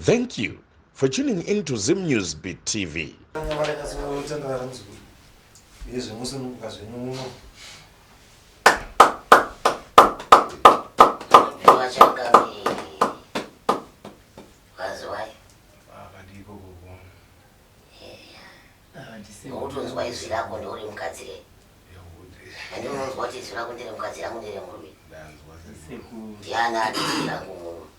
Thank you for tuning in to Zim News Beat TV. Utonzwa izwi rako ndiuri mukadzi re and unonzwa kuti izwi rako ndere mukadzi rangu ndere murume ndiani ati izwi rangu murume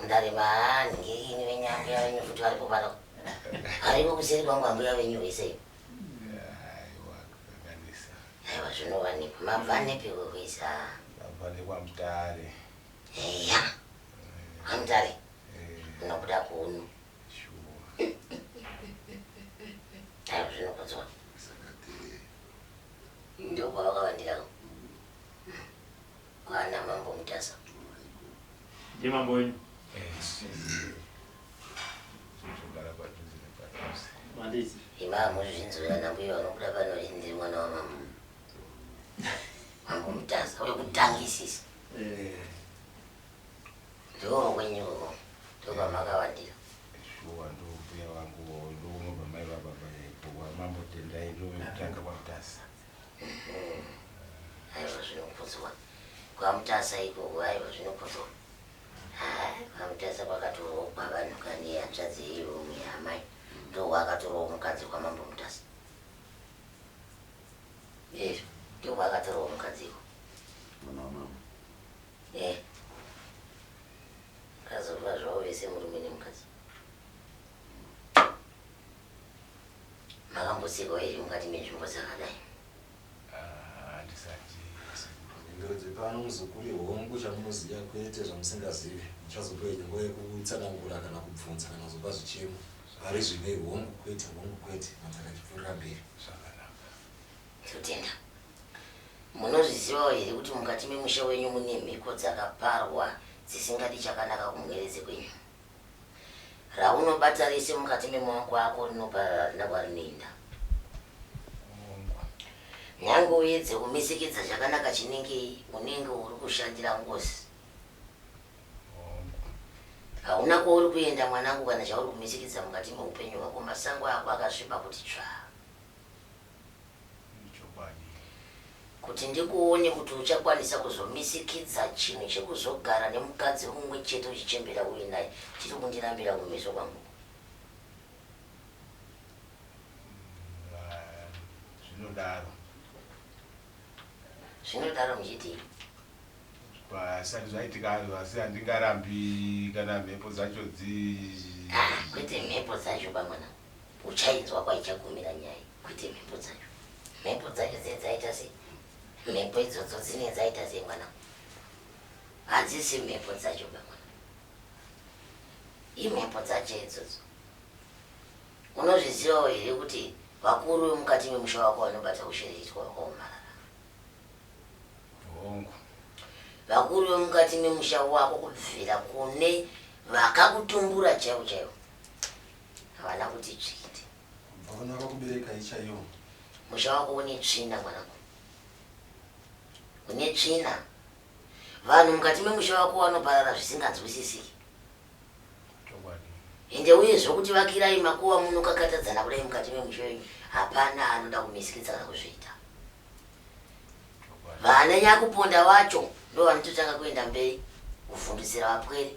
Mudare maani ngirini venyu ambuya venyu futi varipo pano varipo kuseri kwangu ambuya venyu vesei aiwa zvinovanepi mabva nepi kukuisa mabva nekwamutare eya kwamutare munobuda kuno aiwa zvinokudzwa ndokwavakavandira Mwana mambo mutasa kuti muone. Ndiye mambo wenyu. Imam uzvinzwira nambuya vanobuda pano ini ndiri mwana wamambo mambo mutasa wekutangisisa eh. ndoo kwenyuko ndopamakawandira shuwa ndokuya vangu ndounobva mai vababa mambo tendai ndovekutanga kwamutasa Haiwa zvinokudzwa kwaMutasa ikoko haiwa zvinokudzwa. Haa kwaMutasa kwakatorowo kwavanhu kani hanzvadzi yeiromwe yaamai ndowo akatorowo mukadzi kwaMambo Mutasa. Yes, ndowo akatorowo mukadzi iko. Mwana wamama. Eh. Kazova zvawo vese murume nemukadzi. Makambosekawo here mukati menzvimbo dzakadai? Ah, handisati sekuru. Mhinduro dzepano muzukuru ihongu chamunoziva kwete zvamusingazive. Muchazopiwa imwe nguva yekutsanangura kana kubvunza kana kuzopa zvichemo. Pari zvino ihongu kwete, hongu kwete, Madzaka achipfuurira mberi. Zvakanaka. Ndotenda. Munozvizivawo here kuti mukati memusha wenyu mune mhiko dzakaparwa dzisingadi chakanaka kumwere dzekwenyu? raunobata rese mukati memaoko ako rinoparara harina kwarinoenda. Nyange uedze kumesekedza zvakanaka chinengei, unenge uri kushandira ngozi. Hauna kwauri kuenda mwanangu kana zvauri kumesekedza mukati mehupenyu hwako, masango ako akasviba kuti tsvaa. Kuti ndikuone kuti uchakwanisa kuzomisikidza chinhu chekuzogara nemukadzi mumwe chete uchichembera uri naye chiri kundirambira kumeso kwangu uku. Zvinodaro. Zvinodaro muchidii? Hazvisati zvaitika hazvo asi handingarambi kana mhepo dzacho dzi. Ah, kwete mhepo dzacho bamwana. Uchainzwa kwaichagumira nyaya iyi kwete mhepo dzacho. Mhepo dzacho dzinenge dzaita sei? Mhepo idzodzo dzinenge dzaita sei mwana? Hadzisi mhepo dzacho ba mwana. Imhepo dzacho idzodzo. Unozvizivawo here kuti vakuru vemukati memusha wako vanobata kushereketwa kwakaomarara? Hongu. Vakuru vemukati memusha wako kubvira kune vakakutumbura chaivo chaivo Havana kuti tsviti. Kubva vana vakakuberekai chaiyo. Musha wako une tsvina mwanangu. Une tsvina. Vanhu mukati memusha wako vanoparara zvisinganzwisisiki. Ende uye zvokuti vakirai makuva munokakatadzana kudai mukati memusha wenyu hapana anoda kumisikidza kana kuzviita. Vana nyakuponda vacho ndovanototanga kuenda mberi kuvhundutsira vapwere.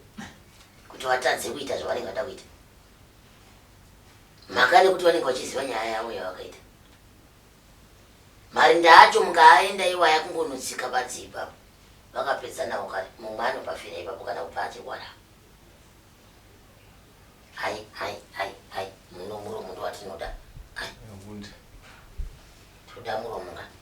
kuti vatadze kuita zvavanenge vada kuita mhaka nekuti vanenge vachiziva nyaya yavo yavakaita marinda acho mukaaenda iwaya kungonotsika badzi ipapo vakapedza navo kare mumwe anopafira ipapo kana kupa achikwana hai hai hai hai muno muromo ndovatinoda hai toda muromo kani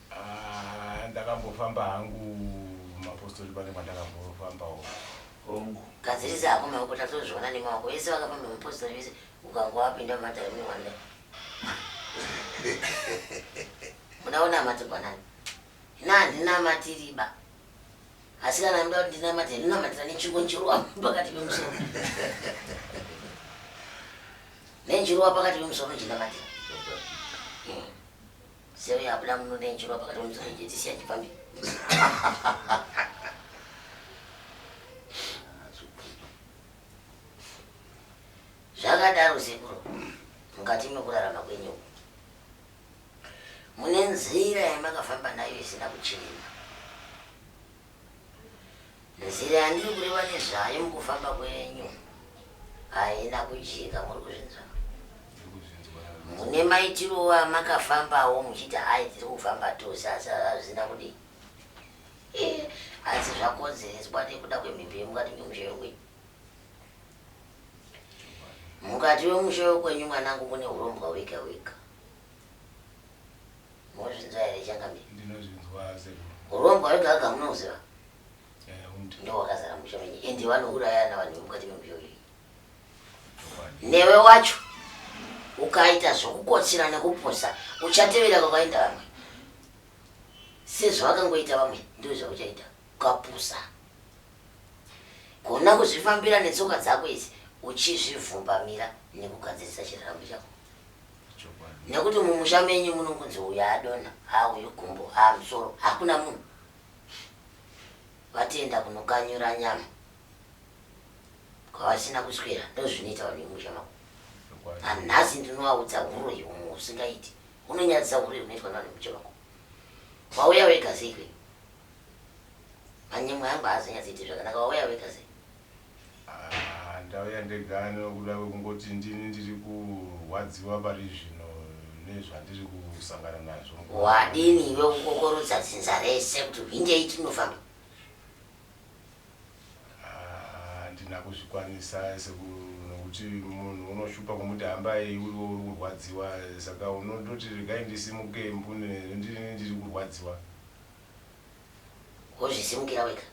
Aah ndakambofamba hangu mapostori pane kwandakambofambawo. Hongu. Gadzirisa hako maoko tatozviona nemaoko vese vakafamba mapostori vese ukangowapinda mumatare mune wanda. Muda unamatirwa nani? Ini handinamatiri ba. Asi kana muda kuti ndinamatire ndinonamatira nechungu njiruwa pakati pemusoro. Nenjiruwa pakati pemusoro ndinamatira. Sero yabuda muno ndenjirwa pakati pomutsoro ije tisiya chipfambi. Zvakadaro sekuru mukati mekurarama kwenyu uku. Mune nzira yamakafamba nayo isina kuchena. Nzira yandiri kureva nezvayo mukufamba kwenyu haina kujeka, muri kuzvinzwa? Mune maitirowo amakafambawo muchiti hai tiri kufamba tose, asi hazvina kudii? Eh, asi zvakonzereswa nekuda kwemhepo yemukati memusha yokwenyu. Mukati wemusha wekwenyu mwanangu mune urombwa hwega hwega. Mozvinzwa here changamire? Ndinozvinzwa sekuru. Urombo hwega hwega munohuziva? Eh, hwundi. Ndohwakazara musha menyu and vanourayana vanhu vemukati memusha uyu. Newe wacho ukaita zvokukotsira nekupusa uchatevera kwakaenda vamwe sezvavakangoita vamwe ndizvo zvauchaita ukapusa gona kuzvifambira netsoka dzako idzi uchizvivhumbamira nekugadzirisa chiraramo chako nekuti mumusha menyu munongonzi uyu adona ha uyu gumbo ha musoro hakuna munhu vatienda kunokanyura nyama kwavasina kuswera ndozvinoita vanhu vemusha mako anhasi ndinovaudza huro yeumwe usingaiti unonyadzisa huro unoitwa navanhu vemusha mako wauya wega sei kwenyu manyemwe angu haazonyadzi iti zvakanaka wauya wega sei Haa ndauya ndega nekuda kwekungoti ndini ndiri kurwadziwa pari zvino nezvandiri kusangana nazvo mukoma. Wadini iwe kukokorodza dzinza rese kuti hwindei tinofamba. Haa handina kuzvikwanisa sekuru nekuti munhu unoshupa kumuti hambai uriwe uri kurwadziwa saka unondoti regai ndisimuke mbune ndini ndiri kurwadziwa. wozvisimukira wega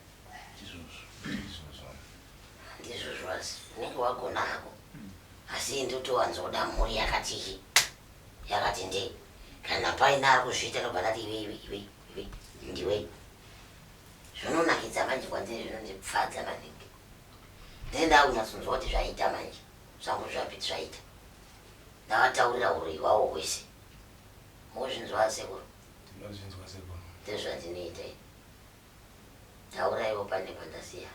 ndizvozvo asi unenge wagona hako asi ini ndotowanzoda mhuri yakati iyi yakati ndei kana paine ari kuzviita ndobva ndati iwe iwe iwe iwe ndiwe zvinonakidza manje kwandiri zvinondipfadza maningi ndee ndakunyatsonzwa kuti zvaita manje zvangu zvapiti zvaita ndavataurira uroyi hwawo hwese mozvinzwa asekuru Tinozvinzwa sekuru. Ndozvatinoita ini. Tauraiwo pane pandasiya.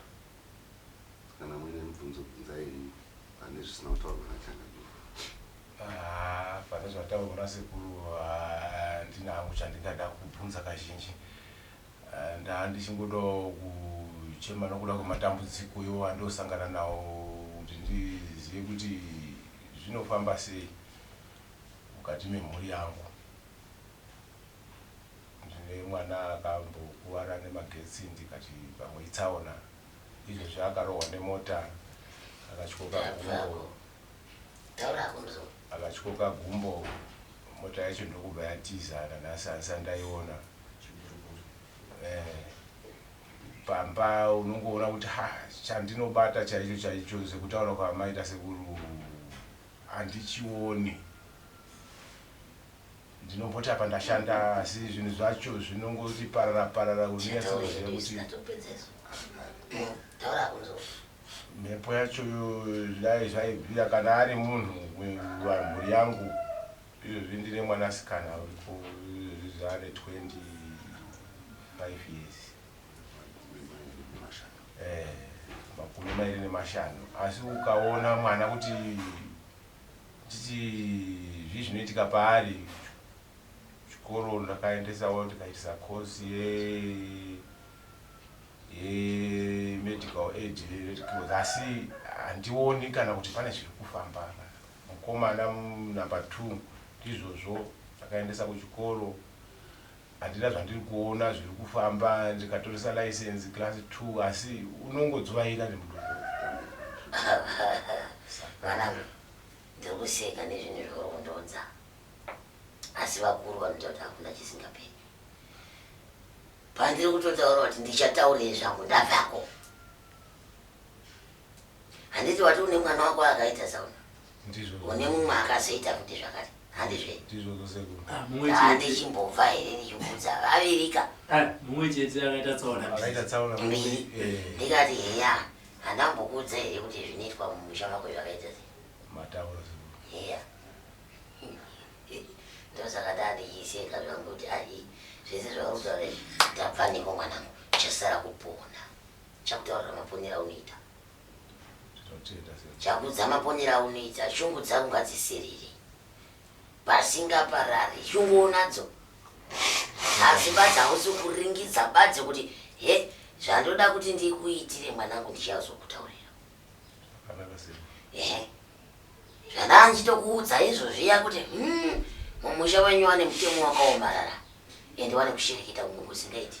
Kana muine mibvunzo bvunzai henyu pane zvisina kutaurwa naChangamire. Haa pane zvataurwa nasekuru handina hangu chandingada kubvunza kazhinji. Ndaa ndichingodawo kuchema nokuda kwematambudziko iwo andinosangana nawo kuti ndizive kuti zvinofamba sei mukati memhuri yangu. Ndine mwana akambokuvara nemagetsi ndikati pamwe itsaona. Izvezvi akarohwa nemota akatyoka gumbo. Taura hako ndozvaunoda. Akatyoka gumbo mota yacho ndokubva yatiza nanhasi handisati ndaiona. Eh pamba unongoona kuti ha chandinobata chaicho chaicho sekutaura kwaamaita sekuru handichioni. ndinomboti apa ndashanda asi zvinhu zvacho zvinongoti parara parara unonyatsoziva kuti mhepo yacho dai zvaibvira kana ari munhu mhuri yangu izvozvi ndine mwanasikana uripo izvozvi zvaane 25 years eh, makumi mairi nemashanu asi ukaona mwana kuti Ndichiti zvii zvinoitika paari chikoro ndakaendesawo ndikaitisa course ye ye medical aid asi handioni kana kuti pane zviri kufamba apa mukomana number two ndizvozvo ndakaendesa kuchikoro Handina zvandiri kuona zviri kufamba ndikatoresa license class two asi unongodzvaira nemudumbu Mwanangu ndiri kuseka nezvinhu zvauri kundiudza asi vakuru vanoita kuti hakuna chisingaperi. Pandiri kutotaura kuti ndichataurei zvangu ndavako. Handiti wati une mwana wako akaita sauna? une mumwe akazoita kuti zvakati handizve handichimbobva here ndichikuudza vavirika mbiri ndikati heya handambokuudza here kuti zvinoitwa mumusha mako zvakaita heya ndosaka ndandichiseka zvangu kuti ai zvese zvaurikutaura izvi ndabva neko mwanangu chasara kupona chakutaurira maponera unoita Chakudza maponera aunoita shungu dzangu ngadzisirire pasingaparari shungu unadzo asi badzi hausi kuringidza badzi kuti he zvandoda kuti ndikuitire mwanangu ndichazokutaurira ehe zvandaa ndichitokuudza izvo zviya kuti hmm, mumusha wenyu wane mutemo wakaomarara ende wane kushereketa kunge kusingaiti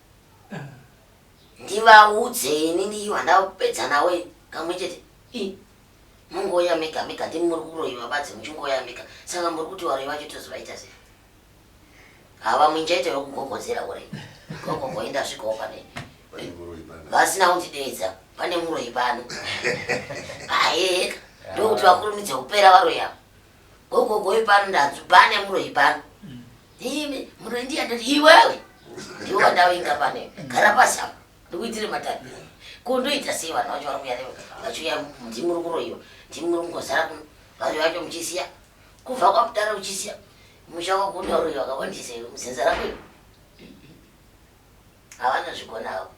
ndivaudze ini ndiyo vandapedza navo ini kamwe chete i mungoya mega mega ndimi muri kuroyiwa vadzi muchingoya mega saka muri kuti varoyi vacho tozovaita sei hava muinjaita yokugogodzera uri gogo ngoenda svikawo pane vasina kundideedza pane muroyi pano aeka ndokuti vakurumidze kupera varoyi ava Gogo goyi pano ndanzwi pane muroyi pano. Imi muroyi ndiye ndati iwewe. Ndiwe wandavinga pane. Gara pasi apa. Ndikuitire matani. Ko ndoita sei vanhu vacho vari kuya newe. Vachiuya ndimi muri kuroyiwa. Ndimi muri kungozara kuno. Vanhu vacho muchisiya. Kubva kwakudaro uchisiya. Musha wako unoyoroyiwa kawandisa iwe muzinza rako iwe. Havana zvigona havo.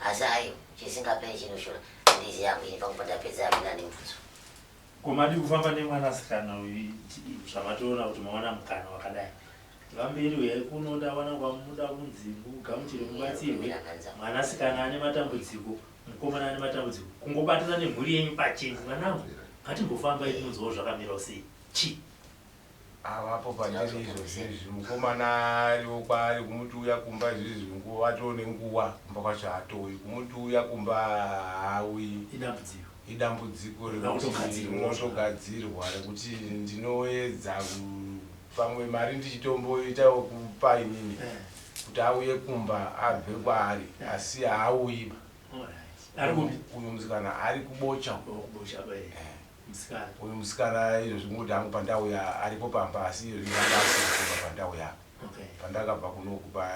Asi ayo chisingapere chinoshura. Ndizi yangu ini pakubva ndapedza amina nemubvunzo. Ko madii kufamba nemwana sikana uyu zvamatoona kuti mawana mukana wakadai vamberi huyai kuno ndawana kwamuda kunzi mugamuchire mubatsirwe mwana sikana ane matambudziko mukomana ane matambudziko kungobatana nemhuri yenyu pachenyu mwanangu ngatimbofambai timunzwawo zvakamirawo sei chi avapo pandiri izvozvi izvi mukomana ariwo kwaari kumuti uya kumba izvizvi nguva atoo nenguva kumba kwacho haatouyi kumuti uya kumba haauyi idambudziko rinotogadzirwa rekuti ndinoedza pamwe mari ndichitomboita wekupa inini kuti auye kumba abve kwaari asi haauyi uyu musikana ari kubocha musikana. Uyu musikana izvozvi moti hangu pandauya aripo pamba asi izvozvi ndanga asiri kubva pandauya apa. Okay. Pandakabva kunoku pa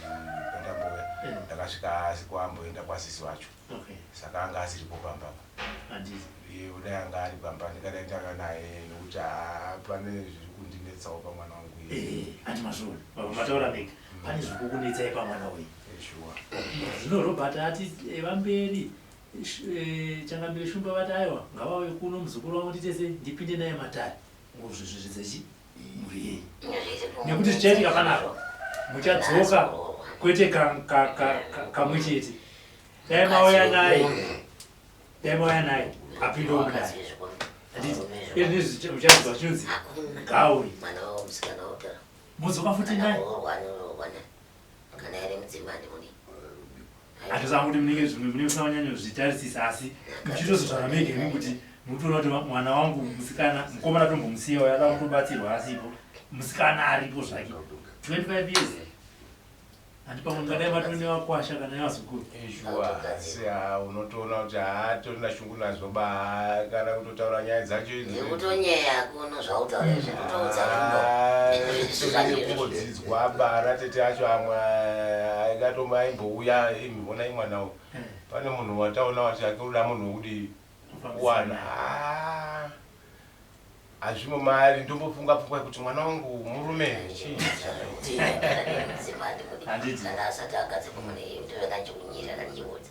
mm, pandambouya Yeah. ndakasvika asi kwamboenda kwasisi vacho Okay. saka anga asiripo pamba apa. Handizi. Iye kudai anga ari pamba ndingadai ndanga naye nekuti haa pane zviri kundinetsawo pamwana wangu iye. Eh, ati mazvona. Baba mataura mega. Pane zviri kukunetsai pamwana uyu. Eh, shuwa. Zvino Robert ati eva mberi Changamire Shumba vati aiwa ngavauye kuno muzukuru wavo nditese ndipinde naye matare ngozvezvezvedza chi mhuri yenyu nekuti zvichaitika panapa muchadzoka kwete kamwe chete dai mauya naye dai mauya naye apindewo mudai muchazwa chinonzi gauri mudzoka futi naye hatizama kuti munenge zvimwe mune musina wanyanya zvitarisisa asi muchitozozvara mege imi kuti mukutoona kuti mwana wangu musikana mukomana tombomusiyawo yada kutobatsirwa asipo musikana aripo zvake 25 years handi pamwe ngadai vatone vakwasha kana yavazukuru ezhuwa asi unotoona kuti haatona Unazobaa kana kutotaura nyaya dzacho idzo. Nekutonyeya kuno zvautaura izvi kutoudza rudo. Kungodzidzwa bara tete acho amwe aikatomba aimbouya imi vonai mwana uyu. Eh. Pane munhu wataona wati ake unoda munhu wekudii? Kuwana. Haa. Hazvimo maari ndombofunga pfungwa yekuti mwana wangu murume chii. Handiti. Kana asati agadze kumune iye ndoveka chikunyira kana chiudza.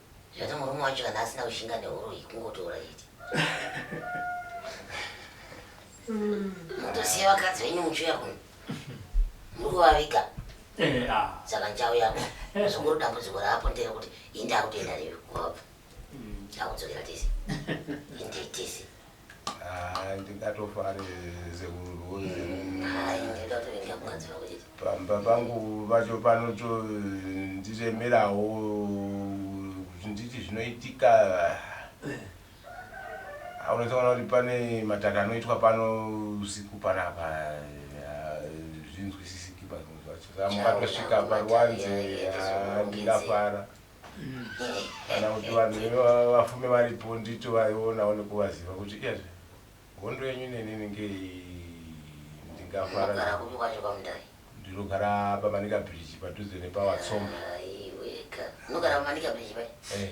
Zvati murume wacho kana asina kushinga neuroyi kungotora chete. Motosiya vakadzi venyu muchiuya kuno. Muri kuvaviga. Eh, ah. Saka ndichauya apa. Zvikuru dambudziko raapo nderekuti ini ndakutoenda newe kubva. Ndakudzokera tese. Ende tese. Ah, ndingatofare zekuruzi pamba pangu vacho panoto ndiremerawo kuti nditi zvinoitika aunotoona kuti pane mataka anoitwa pano usiku panapa zvinzwisisiki pamukatosvika paruwanze ndingafara kana kuti vanhu vafume varipo ndito vaionawo nekuvaziva kuti iyazve hondo yenyu nenini ngei ndingafara ndinogara pamanika bridge padhuze nepawatsomba unogara pamanika bridge pai eh.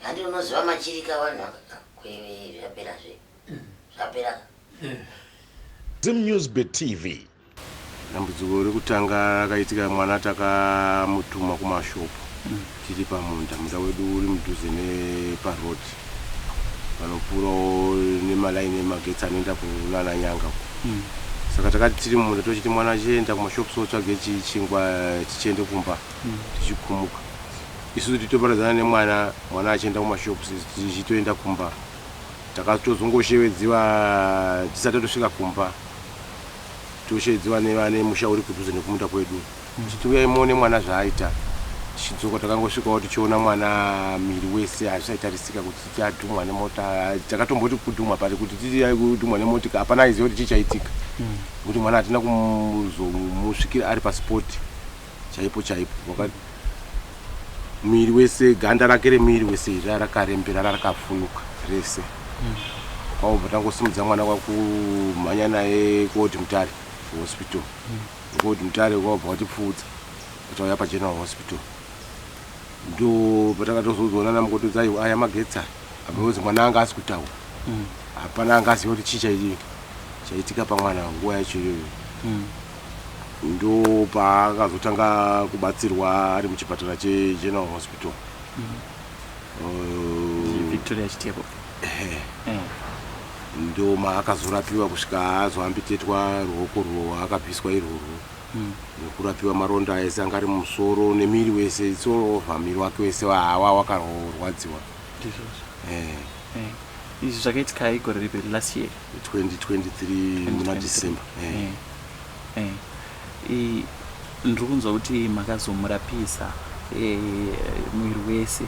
handi unoziva machirika vanhu zvapera zve zvapera eh. zimnewsbet tv Dambudziko rekutanga rakaitika mwana takamutuma kumashopu tiri pamunda, munda wedu uri mudhuze neparoad vanopfuurawo nemalaini emagetsi anoenda kunana nyanga uko mm. saka takati tiri mumunda tochiti mwana achienda kumashopu so tsvage chichingwa tichiende kumba mm. tichikumuka isu titoparadzana nemwana mwana achienda kumashopu tichitoenda kumba takatozongoshevedziwa tisati tosvika kumba toshedzwa nevane musha uri kudhuze nekumunda kwedu tichiti mm. uyai muone mwana zvaaita tichidzoka takangosvikawo tichiona mwana miri wese hazvisaitarisika kuti titi adhumwa nemota takatomboti kudhumwa pari kuti titi kudhumwa nemotika hapana aiziva kuti chii chaitika mm. kuti mwana hatina kuzomusvikira ari paspoti chaipo chaipo wakati muviri wese ganda rake remuviri wese iri rarakarembera rarakafunuka rese mm. kwaubva tangosimudza mwana kwakumhanya naye kuoti mutare hospital mm. kuoti mutare kwaubva watipfuudza atauya pageneral hospital ndo patakatozozoona namukotodza aiwa aya magetsa aozi mwana anga asi kutaura mm. hapana anga aziva kuti chii chaitika pamwana nguva yacho iyoyo Ndopaakazotanga kubatsirwa ari muchipatara cheGeneral Hospital. Uh, Victoria Chitepo. Eh. Ndo maakazorapiwa kusvika azoambitetwa ruoko rwo akabviswa irworwo. Mm. Nekurapiwa maronda aese anga ari mumusoro nemiri wese it's all over miri wake wese wahawa wakarwadziwa. Ndizvozvo. Eh. Eh. Izvi zvakaitikayi gore ripi last year? 2023 muna december eh. Eh. Eh. ndiri kunzwa kuti makazomurapisa eh, mwiri wese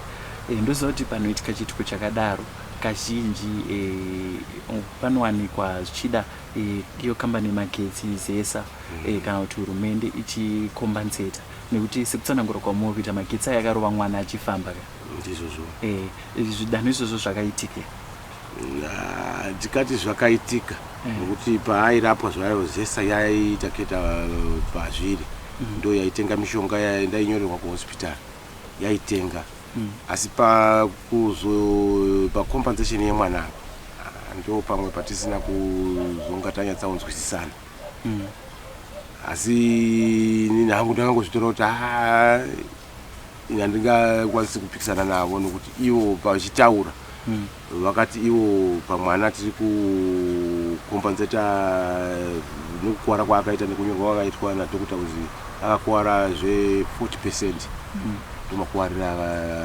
eh, ndoziva kuti panoitika chiitiko chakadaro kazhinji eh, panowanikwa zvichida eh, iyo eh, kambani yemagetsi zesa mm. eh, kana kuti hurumende ichikombenseta nekuti sekutsanangura kwamuri kuita magetsi ayo akarova mwana achifamba ka ndizvozvo eh, zvidanho izvozvo zvakaitika Hatikati zvakaitika mm. nokuti mm. paairapwa zvayo zesa yaiita keta uh, pazviri mm. ndo yaitenga mishonga yaindainyorerwa kuhospitari yaitenga mm. asi pakuzo pacompensation yemwana apa ah, ndo pamwe patisina kuzonga tanyatsaunzwisisana mm. asi nini hangu ndakangozvitora kuti haa ah, handingakwanisi kupikisana navo nokuti ivo pavachitaura hmm. vakati ivo pamwana tiri kukombanzeta nokukuvara kwaakaita nekunyorwa kwakaitwa nadokota kuzi akakuvara zve40 percent hmm. ndomakuvarira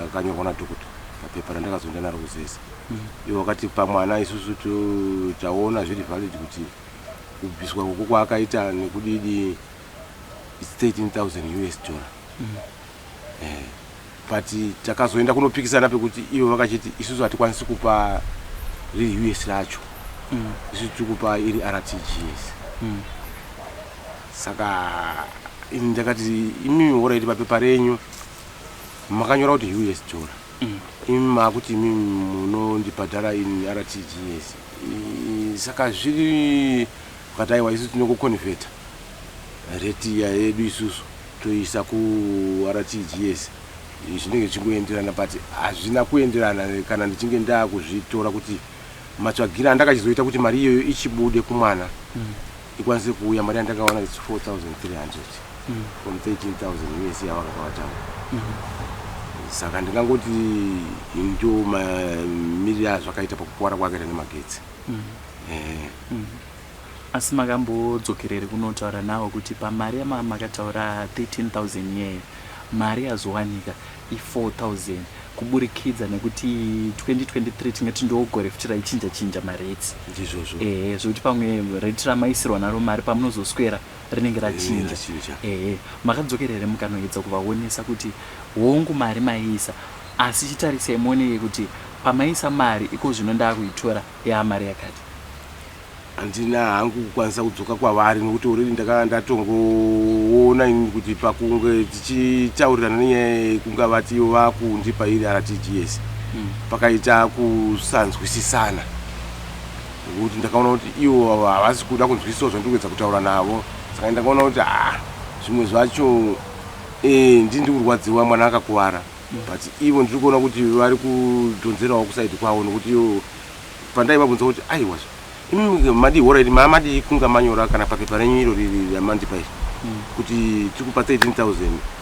akanyorwa nadokota papepa randakazoenda naro kuzesa hmm. ivo vakati pamwana isusu taona zviri valid kuti kubviswa koko kwaakaita nekudidi 13000 us dollar mm. eh, but takazoenda kunopikisana pekuti ivo vakachiti isusu hatikwanisi kupa riri us racho mm. isusu tiri kupa iri rtgs mm. saka ini ndakati imimi ora iti papepa renyu makanyora kuti us dora mm. imi maakuti imimi munondibhadhara in rtgs saka zviri ukataiwa isu tinokuconveta Rate iya yedu isusu toiisa ku RTGS zvinenge zvichingoenderana but hazvina kuenderana kana ndichinge ndakuzvitora kuti matsvagire andakachizoita kuti mari iyoyo ichibude kumwana mm. ikwanise kuuya mari yandakawana its 4300 mm. from 13000 usa yavakakawatawa mm. saka ndingangoti ndo mamiriro azvakaita pakupora kwakaita nemagetsi mm. eh. mm. Asi makambodzokerere kunotaura navo kuti pamari yamakataura 13000 yee mari yazowanika i 4000 kuburikidza nekuti 2023 tingati ndogore futi raichinja chinja marates ndizvozvo ehe zvekuti pamwe rate ramaisirwa naro mari pamunozoswera rinenge rachinja ehe makadzokera here mukanoedza kuvaonesa kuti hongu mari maiisa asi chitarisai muoneke kuti pamaisa mari iko zvino ndaakuitora Yaa mari yakati. Handina hangu kukwanisa kudzoka kwavari nokuti already ndakanga ndatongoona inini kuti pakunge tichitaurirana nenyaya iyi kunga vati ivo vakundipa iri RTGS pakaita kusanzwisisana nokuti ndakaona kuti ivo havasi kuda kunzwisisawo zvandiri kuedza kutaura navo saka ndakaona kuti ah zvimwe zvacho eh, ndini ndiri kurwadziwa mwana akakuvara But ivo ndiri kuona kuti vari kudhonzerawo kuside kwavo nokuti pandaivabvunza kuti aiwazvo imi madii hora iri maamadii kunga manyora kana papepa renyu iro riri ramandipa iri hmm. kuti tiri kupa 13000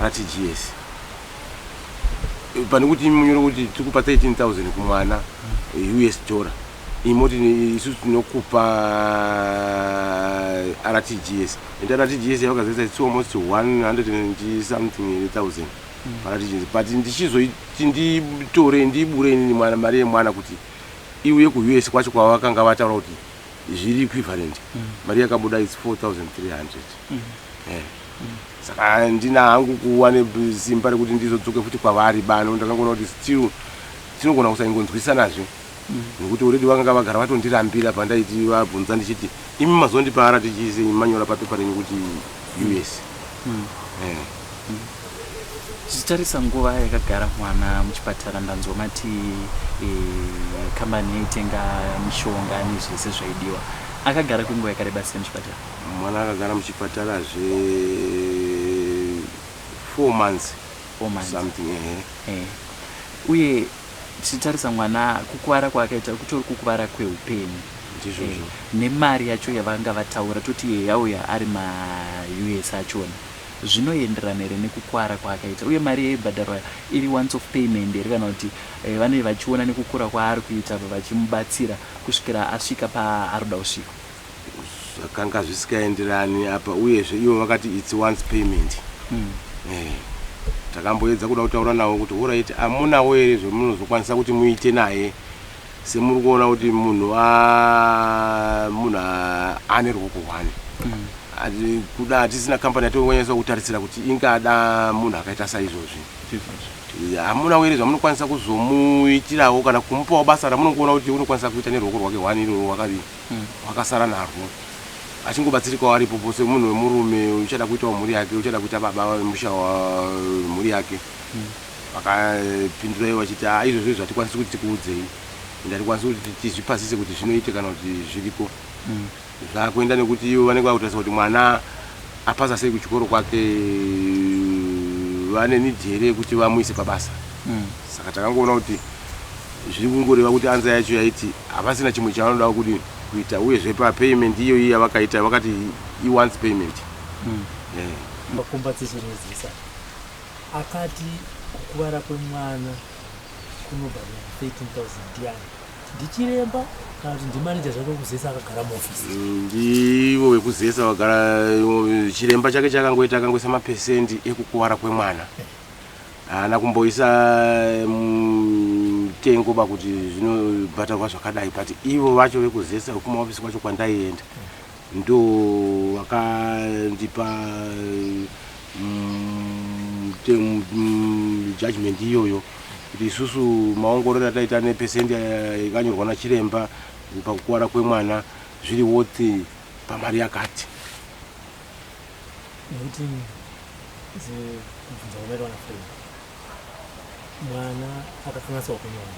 ratgs pane kuti munyore kuti tiri kupa 13000 kumwana hmm. eh, us dollar imoti isu tinokupa rtgs and rtgs yavakazesa it's almost 100 something thousand Mara tichinzi but ndichizoiti nditore ndibure inini mwana mari yemwana kuti iuye kuUS kwacho kwavakanga vataura kuti zviri equivalent mm. mari yakabuda its 4300 mm. eh. mm. saka handina hangu kuva nesimba rekuti ndizodzoke futi kwavari bano ndakangoona kuti still tinogona kusaingonzwisanazve nekuti already vakanga vagara vatondirambira pandaiti vabvunza ndichiti imi mazondipa rtgs enyu manyora papepa renyu kuti us mm. eh. mm. zvichitarisa nguva yakagara mwana muchipatara ndanzwa mati e, kambani e, yaitenga mishonga nezvese zvaidiwa akagara kwenguva yakareba sei muchipatara mwana akagara muchipatara zve four months, four months. something eh. Eh. uye Tichitarisa mwana kukuvara kwaakaita kutori kukuvara kweupenyu ndizvozvo eh, nemari yacho yavanga vataura toti iye yauya ari maus achona zvinoenderana here nekukuvara kwaakaita uye mari yaibhadharwa iri once of payment here kana kuti eh, vanei vachiona nekukura kwaari kuita vachimubatsira kusvikira asvika paari kuda kusvika zvakanga zvisikaenderani apa uyezve ivo vakati its once payment mm. eh, takamboedza kuda kutaura navo kuti horaiti amunawo here zvemunozokwanisa kuti muite naye semuri kuona kuti munhu munhu ane ruoko hwani mm. kuda hatisina kambani yatongonyanyisa kutarisira kuti ingada munhu akaita saizvozvi hamuna were zvamunokwanisa kuzomuitirawo kana kumupawo basa ramunongoona kuti unokwanisa kuita neruoko rwake hwani iroro wakadii hwakasara narwo achingobatsirikawo aripo po semunhu wemurume uchada kuitawo mhuri yake uchada kuita baba vemusha wemhuri yake vakapindura ivo vachiti a ah, izvozvo izvo hatikwanisi kuti tikuudzei and hatikwanisi kuti tizvipasise kuti zvinoite kana kuti zviriko zvakuenda nekuti ivo vanenge vakutarisa kuti mwana apasa sei kuchikoro kwake vane nidhi here yekuti vamuise pabasa Saka takangoona kuti zviri kungoreva kuti anza yacho yaiti havasina chimwe chavanoda kudii kuita uyezve papayment iyoyi yavakaita vakati iwants payment mm. yeah. makumba tichirudzisa akati kukuvara kwemwana kunobhadhara 13000 yani ndichiremba kana kuti ndimaneja zvake wekuzesa akagara muofisi mm, ndivo vekuzesa vagara chiremba chake chakangoita akangoisa mapesendi ekukuvara kwemwana Haana kumboisa mutengo ba kuti zvinobhadharwa zvakadai but ivo vacho vekuzesa vekumaofisi kwacho kwandaienda ndo vakandipa mm, mm, judgment iyoyo kuti isusu maongororo ataita nepesendi yakanyorwa nachiremba pakukuvara kwemwana zviri woti pamari yakati 19 dzekubvunza kunoitwa nafredi mwana akakanganiswa kunyora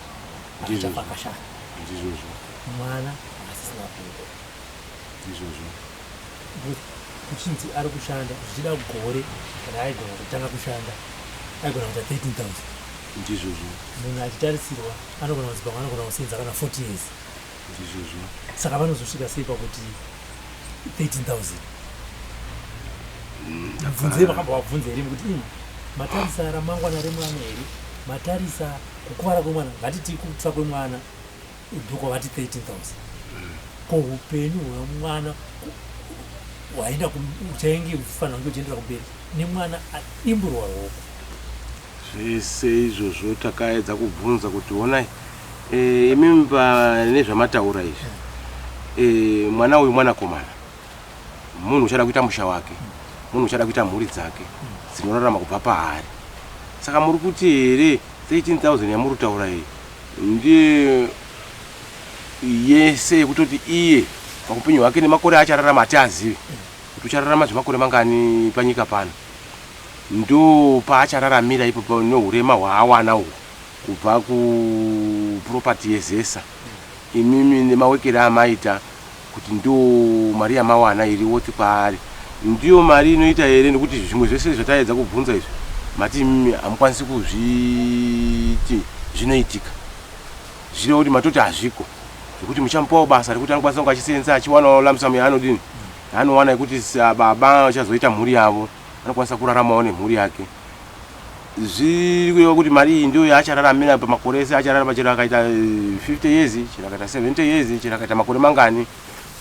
akachafa akashaya ndizvozvo mwana asisina kuda ndizvozvo kuchinzi ari kushanda zvichida gore raaigona kutanga kushanda aigona kuita 13000 ndizvozvo munhu achitarisirwa anogona kuzipa anogona kusenza kana 40 years Ndizvozvo. Saka vanozosvika sei pakuti 13000? Mm, Mubvunzei vakabva vabvunza here kuti ini matarisa ramangwana remwana here matarisa kukuvara kwemwana ngatiti kutsva kwemwana doko vati 13000 ko upenyu hwemwana hwaenda uchainge uchifanira kunge uchiendera kumberi nemwana adimburwa roko zvese izvozvo takaedza kubvunza kuti honai Eh, imi mba nezvamataura izvi eh, mwana uyu mwanakomana munhu uchada kuita musha wake munhu uchada kuita mhuri dzake dzinorarama kubva paari saka muri kuti here 13000 yamuri kutaura iyi ndiye yese yekutoti iye pakupenyu hwake nemakore achararama ati azivi kuti uchararama zvemakore mangani panyika pano ndo paachararamira ipo pa- nehurema hwaawana uhu kubva ku property ye zesa imimi nemawekere amaita kuti ndo mari yamawana iri worth kwaari ndiyo mari inoita here nekuti zvimwe zvese zvataedza kubvunza izvi mati imimi hamukwanisi kuzviti zvinoitika zvireva kuti matoti hazviko zvekuti muchamupawo basa rekuti anokwanisa kunge achiseenza achiwanawo lamsamu yaanodini yaanowana yekuti baba vachazoita mhuri yavo anokwanisa kuraramawo nemhuri yake zviri kureva kuti mari iyi ndiyo yaachararamira pamakore ese achararama chero akaita 50 eh, years chero akaita 70 years chero akaita makore mangani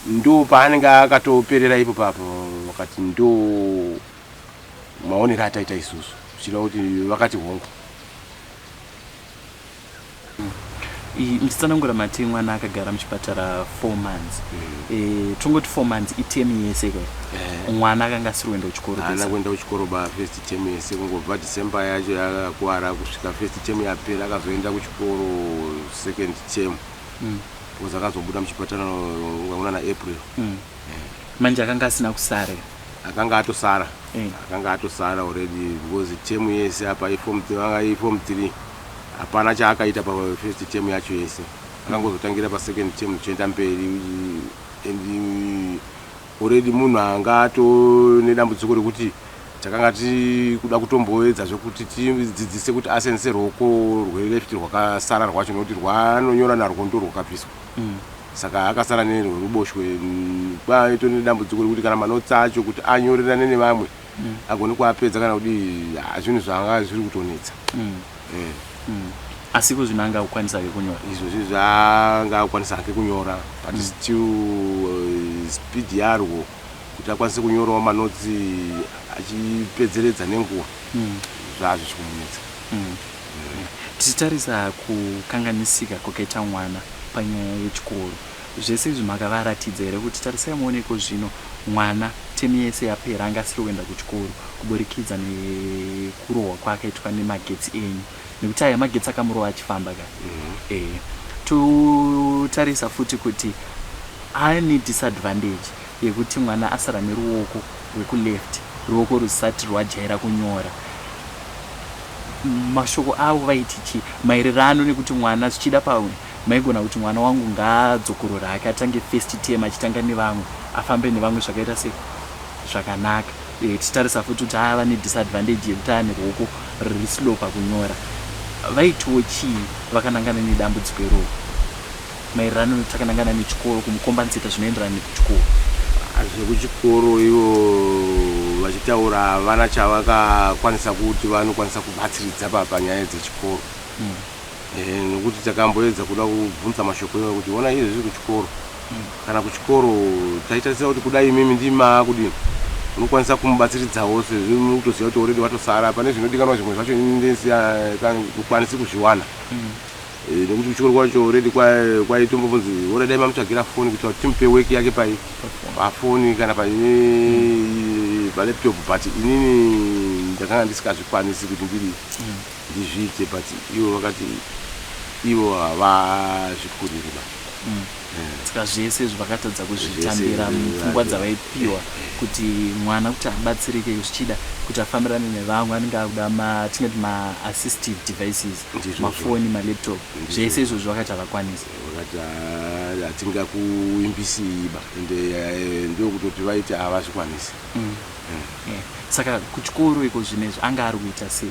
ndo paanenge akatoperera ipo papo vakati ndo maonero ataita isusu zvichireva kuti vakati hongu Iyi nditsanangura mati mwana akagara muchipatara four months mm. e, tongoti four months itemu yese ka eh. mwana akanga asiri kuenda kuchikoro ana kuenda kuchikoro ba first temu yese kungobva december yacho yakakwara kusvika first temu yapera akazoenda kuchikoro second temu mm. bcause akazobuda muchipatara aona na april mm. eh. manje akanga asina kusara akanga atosara eh. akanga atosara already because temu yese apa ifom three Hapana chaakaita pa first term yacho yese. Akangozotangira pa second term tichienda mberi and already munhu anga ato nedambudziko rekuti takanga tiri kuda kutomboedza zvekuti tidzidzise kuti asense rwoko rweleft rwakasara rwacho nokuti rwanonyora narwo ndo rwakabviswa mm. saka akasara nerweruboshwe kwaitonedambudziko rekuti kana manotsi acho kuti anyorerane nevamwe mm. agone kuapedza kana kudi ah, zvinhu zvaanga zviri kutonetsa mm. eh. mm. asi ko zvinhu anga akukwanisa ke kunyora izvo zvinhu zvaanga akukwanisa hake kunyora but mm. still uh, speed yarwo kuti akwanise kunyorawo manotsi achipedzeredza nenguva mm. zvaa zvichikumunetsa mm. mm. tichitarisa kukanganisika kwakaita mwana panyaya yechikoro Zvese izvi makavaratidza here kuti tarisai muone ikozvino mwana temu yese yapera anga asiri kuenda kuchikoro kuburikidza nekurohwa kwaakaitwa nemagetsi enyu nekuti aya magetsi akamurova achifamba ka ehe totarisa futi kuti ane disadvantage yekuti mwana asara neruoko rwekuleft ruoko rusati rwajaira kunyora mashoko avo vaiti chii maererano nekuti mwana zvichida pawe Maigona kuti mwana wangu ngaadzokorore hake atange first term achitanga nevamwe afambe nevamwe zvakaita se zvakanaka eh, tichitarisa futi kuti ava nedisadvantage yekuti ane ruoko riri slow pakunyora vaitiwo chii vakanangana nedambudziko iroro maererano nekuti akanangana nechikoro kumukombaniseta zvinoenderana nekuchikoro zvekuchikoro ivo vachitaura havana chavakakwanisa kuti vanokwanisa kubatsiridza panyaya dzechikoro mm. ehe nokuti takamboedza kuda kubvunza mashoko iwayo kuti honai izvezvi kuchikoro kana kuchikoro taitarisira kuti kudai imimi ndimi maakudini unokwanisa kumubatsiridzawo sezvo imi mukutoziva kuti already watosara pane zvinodikanwa zvimwe zvacho ini ndisi kukwanisi kuzviwana Eh, nekuti kuchikoro kwacho already kwa- kwaitombovunzi ora dai mamutsvagira foni kuitira kuti timupe work yake pai pafoni kana pa eh, palaptop but inini ndakanga ndisikazvikwanisi kuti ndiri ndizviite but ivo vakati ivo havazvikuriri ba eh. saka zvese izvi vakatadza kuzvitambira mupfungwa dzavaipiwa kuti mwana kuti abatsirike zvichida kuti afambirane nevamwe anenge akuda matinoti maassistive devices mafoni malaptop zvese izvozvi vakati havakwanisa vakati ah, hatinga kuimbisiiba ende eh, ndokutoti vaiti havazvikwanisi mm. eh. saka kuchikoro iko zvinezvi anga ari kuita sei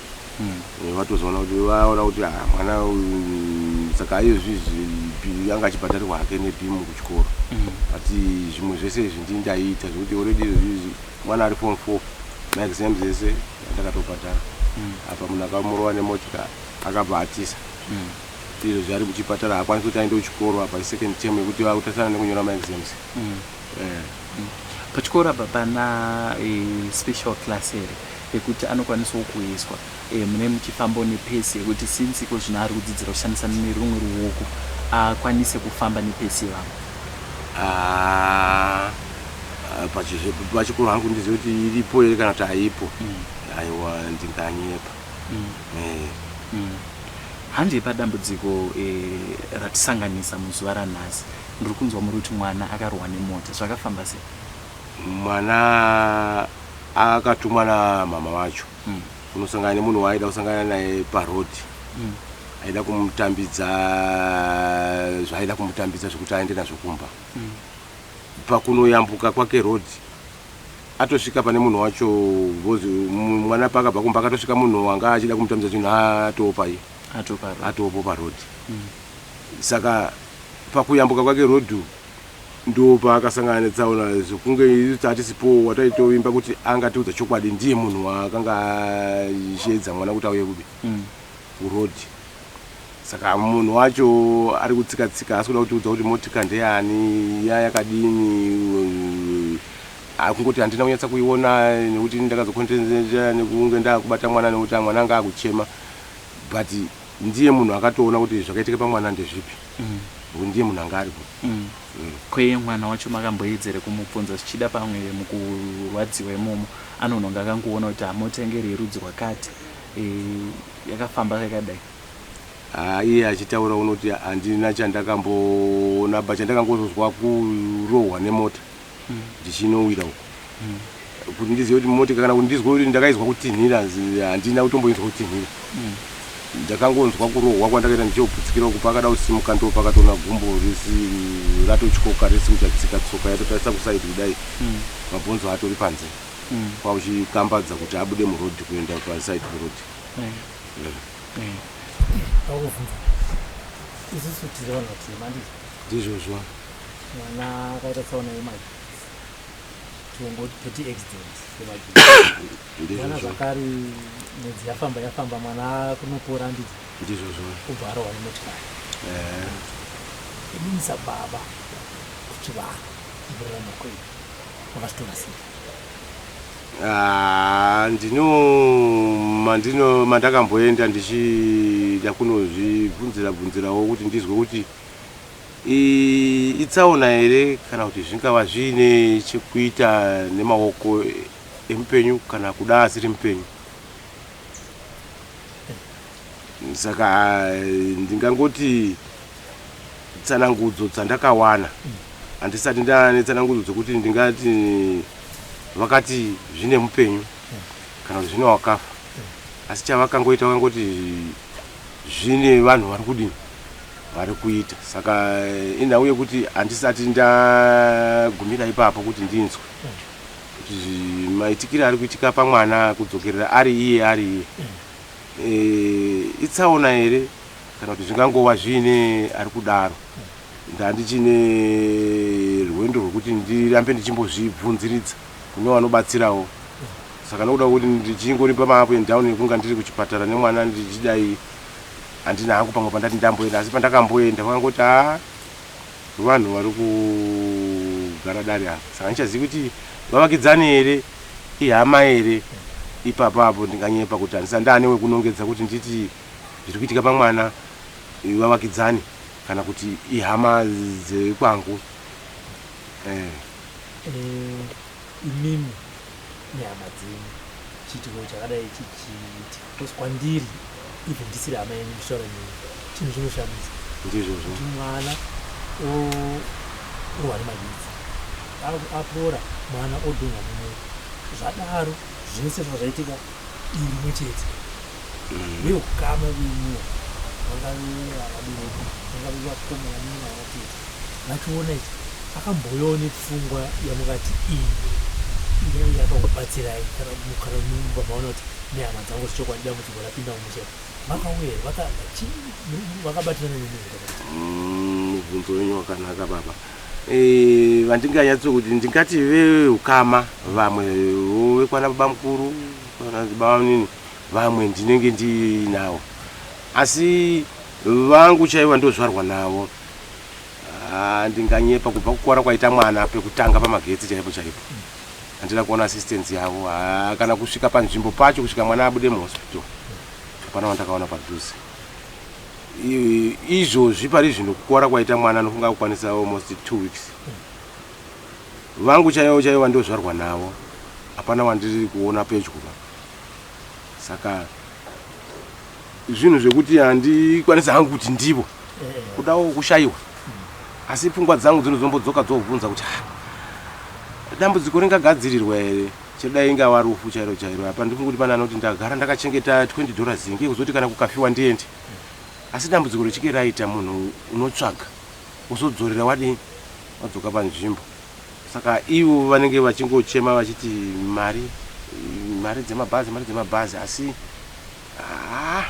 vatozoona kuti vaona kuti ah, mwana uyu saka aiyo zvizvi pi- anga achibhadharirwa hake nebhimu kuchikoro but zvimwe zvese izvi ndini ndaiita zvekuti already izvizvi mwana ari form four maexam dzese ndakatobhadhara apa munhu akamurova nemotika akabva atisa izvo zvaari kuchipatara haakwanisi kuti aende kuchikoro apa isecond term yekuti vakutasana nekunyora maexams Pachikoro apa pana special class here yekuti anokwanisawo kuiswa mune muchifambo nepesi yekuti since iko zvino ari kudzidzira kushandisa nerumwe ruoko akwanise kufamba nepesi ivavo? Ah, pachikoro hangu ndizive kuti iripo here kana kuti haipo. Aiwa ndinganyepa. Handi padambudziko ratisanganisa muzuva ranhasi Ndiri kunzwa muri kuti mwana akarohwa nemota. Zvakafamba sei? Mwana akatumwa namama vacho mm. kunosangana nemunhu waaida kusangana naye paroad mm. aida kumutambidza zvaaida kumutambidza zvekuti aende nazvo kumba mm. pakunoyambuka kwake road atosvika pane munhu wacho vozi mwana paakabva kumba akatosvika munhu wanga achida kumutambidza chinhu atoopai atoopo paroad mm. saka Pakuyambuka kwake rodhu ndopaakasangana netsaona zvokunge isu tatisipowo wataitovimba kuti angatiudza chokwadi ndiye munhu waakanga asheedza mwana kuti auye kupi mm. kurodhi mm saka munhu wacho ari kutsika tsika asi kuda kutiudza kuti motika ndeyani ya yakadini akungoti handina kunyatsa kuiona nekuti ndakazokontenzenja nekunge ndakubata mwana nekuti mwana anga akuchema but Ndiye munhu akatoona kuti zvakaitika pamwana ndezvipi nekuti ndiye munhu anga aripo. Ko iye mwana wacho makamboedza here kumubvunza zvichida pamwe mukurwadziwa imomo anonhonga akangoona kuti hamotengeri yerudzi rwakati yakafamba yakadai. Haa iye achitaura unoti handina chandakamboona but chandakangozozwa kurohwa nemota ndichinowira uko kuti ndizive kuti motika kana kuti ndizwe kuti ndakaizwa kutinhira handina kutomboinzwa kutinhira ndakangonzwa kurohwa kwandakaita ndichoputsikira uku pakada kusimuka ndo pakatoona gumbo risi ratotyoka risi kuchatsika tsoka yatotarisa kusaidi kudai mabhonzo atori panze kwakuchikambadza kuti abude murodhi kuenda pasaidi perodhi ndizvozvo mwana akaita tsaona yemagetsi tiongoti toti accident yemagetsi mwana zvakare mwedzi yafamba yafamba mwana kunopora ndidzo ndizvo zvo kubva arohwa nemotikari imisa baba kuti vanhu kurarama kwenyu makasitora sei Ah, ndino mandino mandakamboenda ndichida kunozvibvunzira bvunzirawo kuti ndizwe kuti Iyi itsaona here kana kuti zvingava zviine chekuita nemaoko emupenyu kana kuda asiri mupenyu? Saka ndingangoti tsanangudzo dzandakawana handisati ndava netsanangudzo dzekuti ndingati vakati zvine mupenyu kana kuti zvine wakafa asi chavakangoita vakangoti zvine vanhu vari kudini vari kuita saka inhau yekuti handisati ndagumira ipapo kuti ndinzwe kuti maitikire ari kuitika pamwana kudzokerera ari iye ari iye eh, itsaona here kana kuti zvingangova zviine ari kudaro ndandichine rwendo rwekuti ndirambe ndichimbozvibvunziridza kune vanobatsirawo saka nokuda kuti ndichingori pamaapo and down ekunga ndiri kuchipatara nemwana ndichidai Handina hangu pamwe pandati ndamboenda asi pandakamboenda vakangoti haa vanhu vari kugara dare apa saka handichazivi kuti vavakidzani here ihama here ipapo apo ndinganyepa kuti handisa ndaane wekunongedza kuti nditi zviri kuitika pamwana vavakidzani kana kuti ihama dzekwangu eh. Eh, imimi nehama dzenyu chiitiko chakadai chichiitika Because kwandiri even ndisiri hama yenyu ndichitaura nemi chinhu chinoshamisa ndizvozvo kuti mwana orohwa nemaditsi apora mwana odunha mumwe zvadaro zvese zvazvaitika irimwe chete mm. veukama venyuwa vangave vavabereki vangave vakomana nevanatete vachiona izvi akambouyawo nepfungwa yamungati iyi inenge yakakubatsirai kana kana mumba maona kuti nehama dzangu zvechokwadi dambudziko rapinda mumusha makauya vaka- chii- mu- vakabatirana nemi here kana kuti? Mm, mubvunzo wenyu wakanaka baba Eh, vandinganyatso kuti ndingati veukama vamwe wo vekwana baba mukuru kana baba nini vamwe ndinenge ndiinawo asi vangu chaivo ndozvarwa navo Ah, ndinganyepa kubva kukuvara kwaita mwana pekutanga pamagetsi chaipo chaipo handina kuona assistance yavo ah, kana kusvika panzvimbo pacho kusvika mwana abude muhospital hapana wandakaona padhuze izvozvi pari zvino kukuvara kwaita mwana anofunga kukwanisa almost two weeks vangu chaivo chaivo vandozvarwa navo hapana wandiri kuona pedyo saka zvinhu zvekuti handikwanisi hangu kuti ndivo kudawo kushayiwa asi pfungwa dzangu dzinozombodzoka dzobvunza kuti ha dambudziko ringagadzirirwa here chedai ingava rufu chairo chairo apa ndifunga kuti pane anoti ndagara ndakachengeta 20 dollars inge kuzoti kana kukafiwa ndiende asi dambudziko richike raita munhu unotsvaga uzodzorera wadii wadzoka panzvimbo Saka ivo vanenge vachingochema vachiti mari mari dzemabhazi mari dzemabhazi asi haa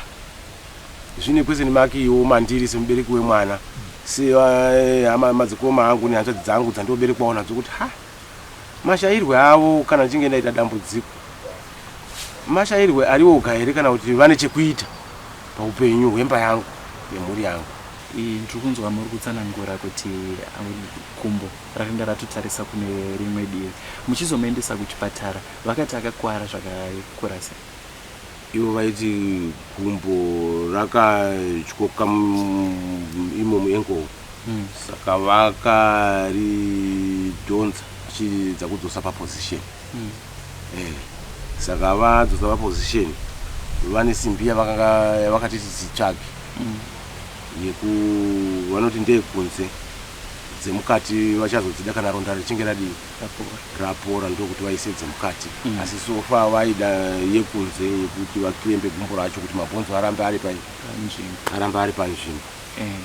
zvine question mark iwo mandiri semubereki wemwana sehama madzikoma angu nehanzvadzi dzangu dzandoberekwawo nadzo kuti ha mashairwe avo kana ndichinge ndaita dambudziko mashairwe ariwoga here kana kuti vane chekuita paupenyu hwemba yangu yemhuri yangu Ndiri kunzwa muri kutsanangura kuti gumbo rakanga ratotarisa kune rimwe divi. Muchizomuendesa kuchipatara vakati akakuwara zvakakura sei? Ivo vaiti gumbo rakatyoka imo muankle hmm. saka vakaridhonza vachiedza kudzosa paposition hmm. eh, saka vadzosa paposition vane simbi yavakati titsvage hmm. yeku vanoti ndeyekunze dzemukati vachazodzida kana ronda richinge radii rapora ndokuti vaise dzemukati mm. asi sofa vaida yekunze yekuti vakirembe gumbo racho kuti mabhonzo arambe ari pai arambe ari panzvimbo eh.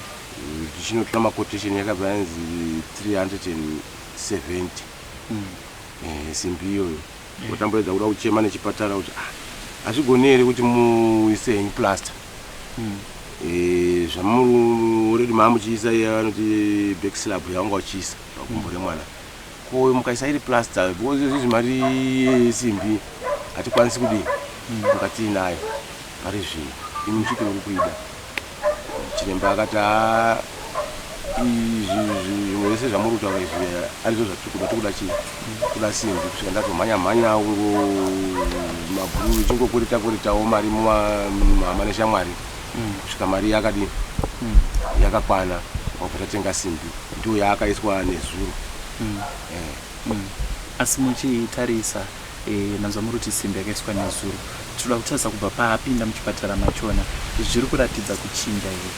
tichinotora mm. makotation yakabva yanzi 370 mm. eh, simbi iyoyo Kutamba edza kuda kuchema nechipatara kuti ah hazvigoni here kuti muise henyu plaster Eh, zvamuri already maamuchiisa iye anoti back slab yaunga uchiisa pagumbo remwana ko mukaisa iri plaster because izvi mari yesimbi hatikwanisi kudii mukati inayo pari zvino imi muchiti muri kuida Chiremba akati haa izvi zvimwe vese zvamuri kutaura izvi arizvo zvatiri kuda tiri kuda chii kuda simbi kusvika ndatomhanya mhanya ungo mabhuru ichingokurita kuritawo mari muhama neshamwari mm. kusvika mari yakadii mm. yakakwana wabva tatenga simbi ndiyo yaakaiswa nezuro mm. eh. asi muchitarisa Eeh ndanzwa murikuti simbi yakaiswa nezuro tinoda kutarisa kubva paapinda muchipatara machona zviri kuratidza kuchinja here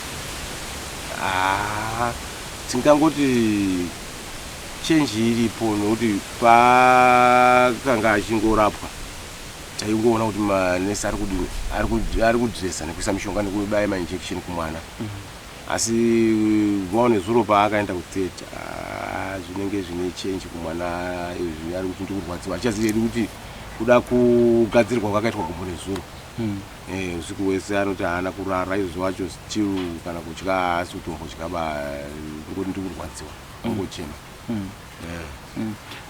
haa tingangoti change iripo nokuti paakanga achingorapwa taingoona kuti manesi ari kudini ari kudresa nekuisa mishonga nekubaya mainjection kumwana mm -hmm. Asi Vhao nezuro paakaenda kutheatre ah, zvinenge zvine change kumwana izvi ari kuti ndikurwadziwa achaziva iri kuti kuda kugadzirwa kwakaitwa gumbo nezuro hmm. eh, usiku wese anoti haana kurara izvo wacho still kana kudya haasi kutombodya ba ndikuti ndikurwadziwa ungochema hmm. hmm.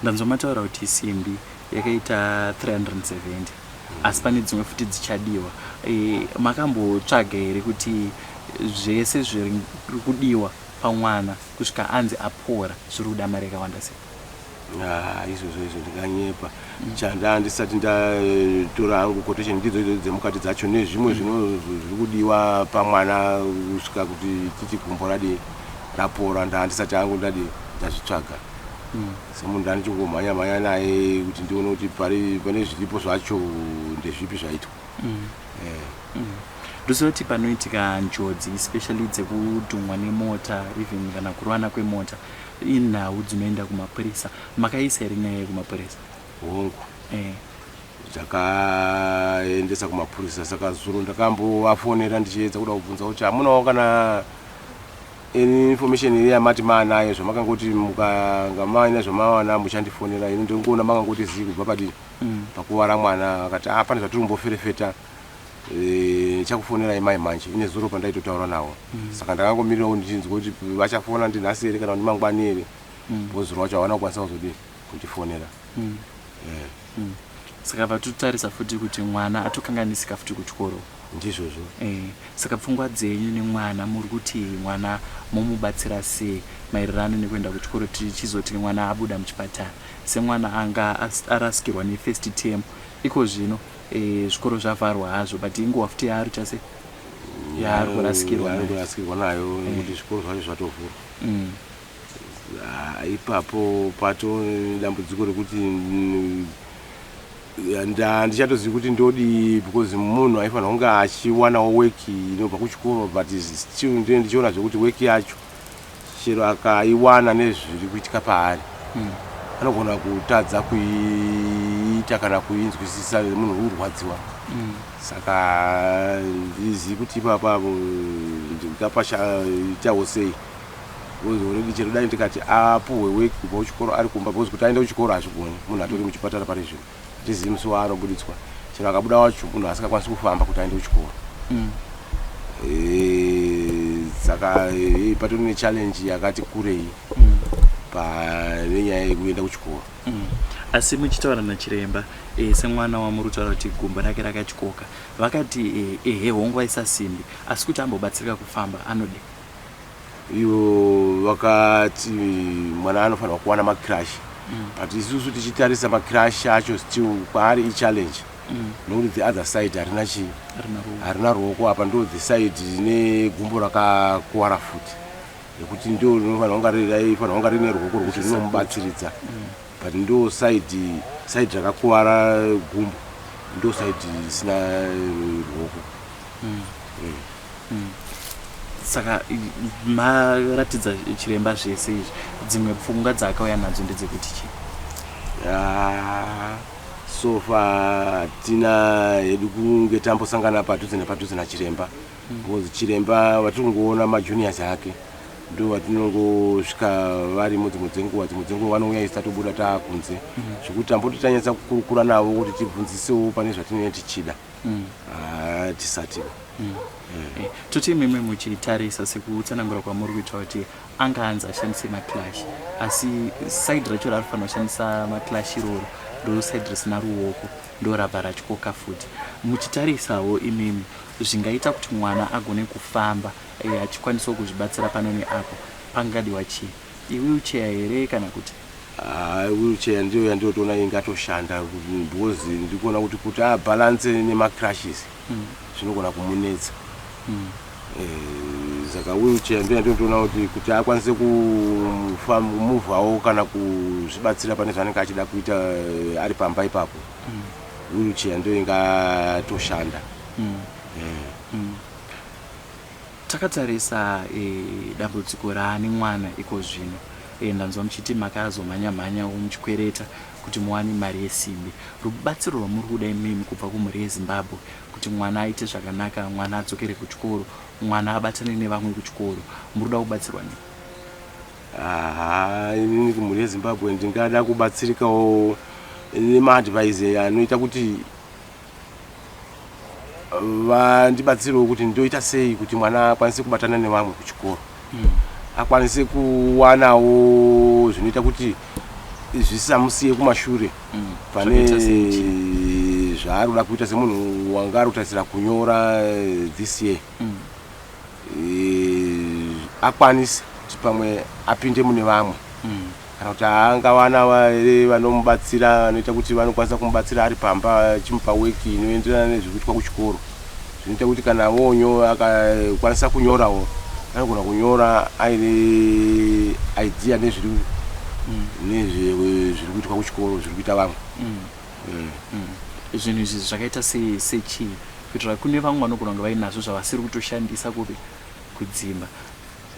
Ndanzwa mataura kuti simbi yakaita 370 asi pane dzimwe futi dzichadiwa. Eh, makambotsvaga here kuti zvese zviri kudiwa pamwana kusvika anzi apora zviri kuda mari yakawanda sei? Ah, izvozvo izvo ndinganyepa. Chanda ndisati ndatora hangu quotation ndidzo idzo dzemukati dzacho nezvimwe zvino zviri kudiwa pamwana kusvika kuti titi gumbo radii rapora ndaa ndisati hangu ndadii ndazvitsvaga semunhu ndaa ndichingomhanya mhanya naye kuti ndione kuti pari pane zviripo zvacho ndezvipi zvaitwa Eh, ndozoti panoitika njodzi especially dzekudhumwa nemota even kana kurwana kwemota inhau dzinoenda kumapurisa Makaisa here nyaya iyi kumapurisa? Hongu. Eh. Ndakaendesa kumapurisa saka zuro ndakambovafonera ndichiedza kuda kubvunza kuti hamunawo kana information iri yamati maanayo zvamakangoti mukanga maina zvamawana muchandifonera ini ndiri kuona makangoti zii kubva padii mm. pakuvara mwana akati ah, pane zvatiri kumboferefeta eh, chakufonerai mai manje ine zuro pandaitotaura navo mm. saka ndakangomirirawo ndichinzwa kuti vachafona ndinhasi here kana kuti mangwani here bhozi rwacho havana kukwanisa kuzodii kutifonera mm. yeah. mm. saka vatotarisa futi kuti mwana atokanganisika futi kuchikoro ndizvozvo eh, saka pfungwa dzenyu nemwana muri kuti mwana momubatsira sei maererano nekuenda kuchikoro tichizoti mwana abuda muchipatara semwana anga arasikirwa nefirst term iko zvino eh, zvikoro zvavharwa hazvo but inguva futi yaari kuita sei yaari kurasikirwa nayo nekuti zvikoro zvacho zvatovhurwa mm. Ah, ipapo pato dambudziko rekuti handichatozivi kuti ndodii because munhu aifanira kunge achiwanawo weki inobva kuchikoro but still ndine ndichiona zvekuti weki yacho chero akaiwana nezviri kuitika paari hmm. anogona kutadza kuiita kana kuinzwisisa munhu urwadziwa hmm. saka ndizivi kuti ipapavo ndingapashaitawo sei Because already chero dai ndikati apuhwe work kubva kuchikoro ari kumba because kuti aende kuchikoro hazvigoni munhu atori muchipatara pari zvino hatizivi musi waanobuditswa chero akabuda wacho munhu asingakwanisi kufamba kuti aende kuchikoro mm. eh, saka eh, patori nechallenge yakati kurei mm. pane nyaya yekuenda kuchikoro mm. asi muchitaura nachiremba e, semwana wamuri kutaura kuti gumbo rake rakatyoka vakati ehe e, hongu aisasimbi asi kuti ambobatsirika kufamba anodei ivo vakati mwana anofanirwa kuwana macrash mm. but isusu tichitarisa macrash acho still kwaari ichallenge mm. nokuti the other side harina chii harina ruoko apa ndo the side rine gumbo rakakuwara futi nekuti ndo rinofanira kunga raifanira kunga rine ruoko rwekuti rinomubatsiridza mm. but ndo side side rakakuvara gumbo ndo side risina ruoko mm. mm. mm. saka maratidza chiremba zvese izvi dzimwe pfungwa dzaakauya nadzo ndedzekuti chii ah, so far tina hedu kunge tambosangana padhuze nepadhuze nachiremba mm. because chiremba vatiri kungoona majuniors ake ndovatinongosvika varimo dzimwe dzenguva dzimwe dzenguva vanouya isi tatobuda taakunze mm. zvekuti tamboti tanyatsa kukurukura navo kuti tibvunzisewo pane zvatinenge tichida mm. ah, tisati mm. eh. eh, toti imimi muchitarisa sekutsanangura kwamuri kuita kuti anga anzi ashandise maclash asi said racho raari fanira kushandisa maclash iroro ndo said risina ruoko ndo rabva ratyoka futi muchitarisawo imimi zvingaita kuti mwana agone kufamba Iye achikwanisawo kuzvibatsira pano neapo. Pangadiwa chii? Iwheelchair here kana kuti? Haa wheelchair ndiyo yandiri kutoona ingatoshanda because ndiri kuona kuti kuti abalance nemacrushes zvinogona kumunetsa. Eh, Saka wheelchair ndiyo yandiri kutoona kuti kuti akwanise kufam- kumuvhawo kana kuzvibatsira pane zvaanenge achida kuita eh, ari pamba ipapo. Wheelchair ndiyo ingatoshanda. Eh. Takatarisa dambudziko raane mwana ikozvino. Ndanzwa muchiti makazomhanya mhanya wo muchikwereta kuti muwane mari yesimbi. Rubatsiro rwamuri kuda imimi kubva kumhuri yeZimbabwe kuti mwana aite zvakanaka, mwana adzokere kuchikoro, mwana abatane nevamwe kuchikoro. Muri kuda kubatsirwa nei? Haa inini kumhuri yeZimbabwe ndingada kubatsirikawo nemaadvise anoita kuti vandibatsirewo kuti ndoita sei kuti mwana akwanise kubatana nevamwe kuchikoro mm. akwanise kuwanawo zvinoita kuti zvisamusiye kumashure mm. pane zvaari kuda kuita semunhu wanga ari kutarisira kunyora eh, this year mm. eh, akwanise kuti pamwe apinde mune vamwe mm. kana kuti angawana here vanomubatsira vanoita kuti vanokwanisa kumubatsira ari pamba achimupa weki inoenderana nezvekuitwa kuchikoro zvinoita kuti kana vonyo akakwanisa kunyorawo anogona kunyora aine idea nezviri mm. nezviri kuitwa kuchikoro zviri kuita vamwe mm. zvinhu izvi zvakaita se- sechii kuitira kune vamwe vanogona kunge vainazvo zvavasiri kutoshandisa kupi kudzimba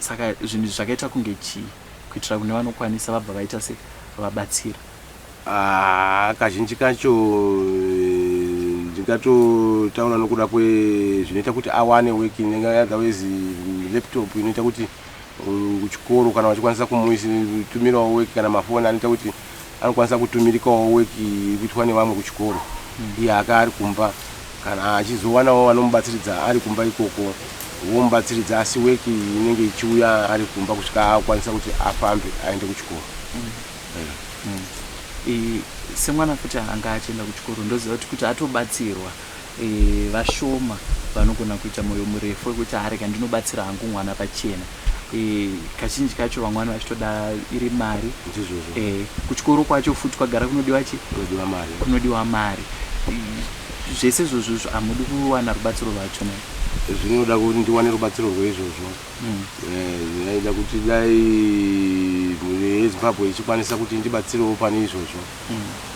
saka zvinhu izvi zvakaita kunge chii kuitira kune vanokwanisa vabva vaita se vabatsira Ah, kazhinji kacho eh, ndingatotaura nokuda kwezvinoita kuti awane working otherwise laptop inoita kuti kuchikoro kana vachikwanisa kumutumirawo weki kana mafoni anoita kuti anokwanisa kutumirikawo weki iri kuitwa nevamwe kuchikoro hmm. iye aka ari kumba kana achizowanawo vanomubatsiridza ari kumba ikoko vomubatsiridza asi weki inenge ichiuya ari kumba kusvika akwanisa kuti afambe aende kuchikoro hmm. Hmm. semwana futi anga achienda kuchikoro ndoziva kuti kuti atobatsirwa Vashoma vanogona kuita moyo murefu wekuti haa rega ndinobatsira hangu mwana pachena. Kazhinji kacho vamwe vano vachitoda iri mari. Kuchikoro kwacho futi kwagara kunodiwa chi? Kunodiwa mari. Zvese izvozvo hamudi kuwana rubatsiro rwacho ne? Zvinoda kuti ndiwane rubatsiro rweizvozvo. Zvinoda kuti dai mhuri yeZimbabwe ichikwanisa kuti indibatsirewo pane izvozvo.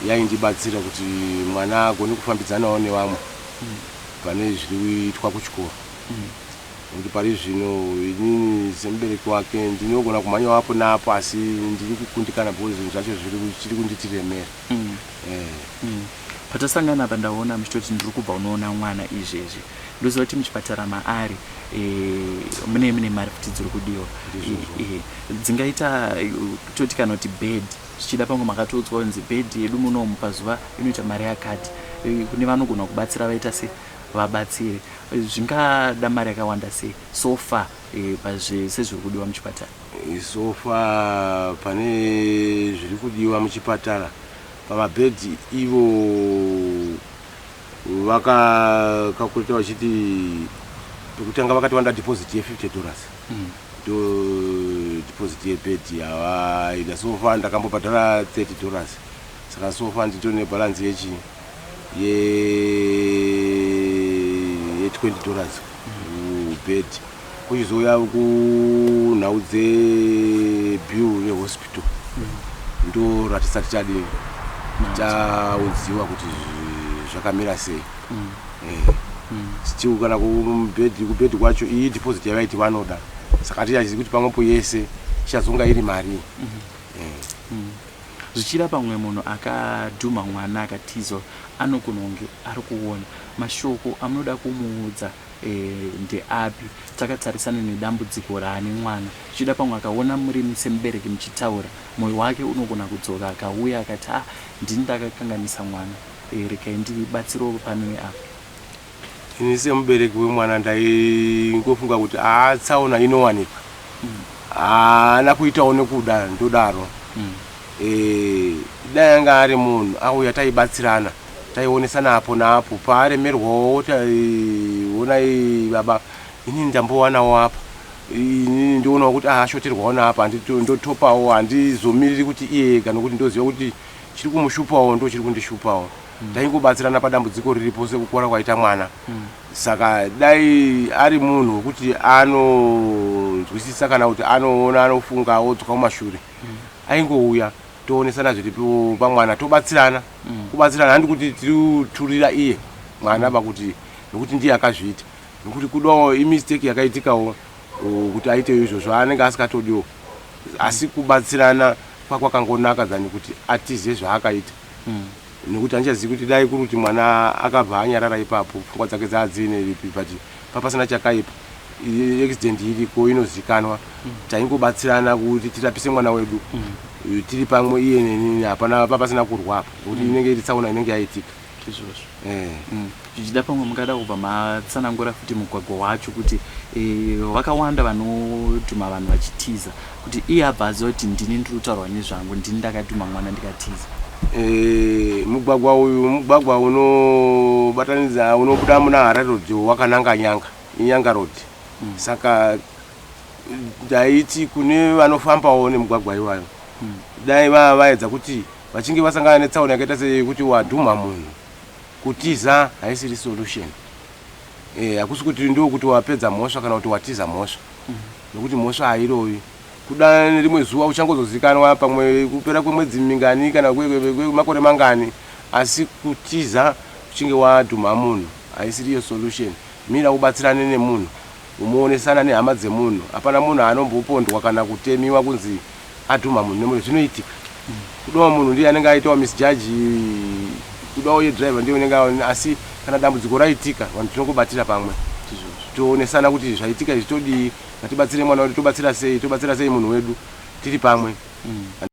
yaindibatsira kuti mwana agone kufambidzanawo nevamwe pane zviriitwa kuchikoro kuti pari zvino inini semubereki wake ndinogona kumhanyawo apo naapo asi ndiri kukundikana because zvinhu zvacho zvichiri kunditiremera mm. eh. mm. patasangana apa ndaona muchitoti ndiri kubva unoona mwana izvezvi ndoziva kuti muchipatara maari eh, mune mune mari kuti dziri kudiwa eh, dzingaita toti kana kuti bed Zvichida pamwe makatoudzwa kunzi bed yedu munomu pazuva inoita mari yakati. Kune vanogona kubatsira vaita se vabatsiri. Zvingada mari yakawanda sei so far pazve sezviri kudiwa muchipatara? So far pane zviri kudiwa muchipatara pama bed ivo vaka calculator vachiti pekutanga vakati vanoda deposit ye 50 dollars. to deposit ye bed yavaida sofa ndakambobhadhara 30 dollars saka sofa nditori ne balance yechi ye ye 20 dollars kubed kuchizouya kunhau dze bill rehospital ndoratisa tichadii taunziwa kuti zvakamira sei mm. eh. mm. still kana kubhedhi kubhedhi kwacho iyi deposit yavaiti vanoda saka tichazivi kuti pamwepo yese ichazonga iri mari mm -hmm. eh. mm. zvichira pamwe munhu akadhuma mwana akatizo anogona kunge ari kuona mashoko amunoda kumuudza eh, ndeapi takatarisana nedambudziko raane mwana zvichida pamwe akaona muri semubereki muchitaura mwoyo wake unogona kudzoka akauya akati a ah, ndini ndakakanganisa mwana Regai ndibatsirewo pano neapo. Ini semubereki wemwana ndaingofunga kuti haa tsaona inowanikwa haana kuitawo nekuda ndodaro mm. e, dai anga ari munhu auya taibatsirana taionesana apo naapo paaremerwawo taionai baba inini ndambowanawo apa inini ndionawo kuti ashoterwawo naapa ndotopawo handizomiriri kuti iye ega nokuti ndoziva kuti Chiri kumushupawo ndochiri kundishupawo. Taingobatsirana padambudziko riri pose kukora kwaita mwana. Saka dai ari munhu wekuti anonzwisisa kana kuti anoona anofunga odzoka kumashure aingouya toonesana zviri pamwana tobatsirana. Kubatsirana handi kuti tiri kuturira iye mwana apa kuti nokuti ndiye akazviita nokuti kudawo imistake yakaitikawo kuti aitewo izvozvo anenge asikatodiwo asi kubatsirana kwakwakangonaka than kuti atize zvaakaita mm. nekuti handichazivi kuti dai kuri kuti mwana akabva anyarara ipapo pfungwa dzake dzaadziine ripi but papasina chakaipa accident iriko inozikanwa mm. taingobatsirana kuti tirapise mwana wedu mm. tiri pamwe iye nenini hapana papasina kurwa apa nekuti inenge iri tsaona inenge yaitika izvozvo zvichida pamwe mungada kubva matsanangura futi mugwagwa wacho kuti vakawanda vanodhuma vanhu vachitiza kuti iye abva aziva kuti ndini ndiri kutaurwa nezvangu ndini ndakadhuma mwana ndikatiza mugwagwa uyu mugwagwa unobatanidza unobuda muna harare road wakananga nyanga inyanga road saka ndaiti kune vanofambawo nemugwagwa iwayo dai vava vaedza kuti vachinge vasangana netsaona yakaita seyekuti wadhumha munhu kutiza haisiri solution eh, hakusi kuti ndo kuti wapedza mhosva kana kuti watiza mhosva mm. nokuti mhosva hairovi kuda nerimwe zuva uchangozozikanwa pamwe kupera kwemwedzi mingani kana kwemakore mangani asi kutiza uchinge wadhumha munhu haisiriyo solution mira ubatsirane nemunhu Umoonesana nehama dzemunhu hapana munhu aanombopondwa kana kutemiwa kunzi adhumha munhu nemoto zvinoitika kudoma munhu ndiye anenge aitawo misjudge kudawo ye driver ndiye unenge aona asi kana dambudziko raitika vanhu tinongobatira pamwe toonesana kuti zvaitika izvi todii ngatibatsire mwana wedu tobatsira sei tobatsira sei munhu wedu tiri pamwe mm.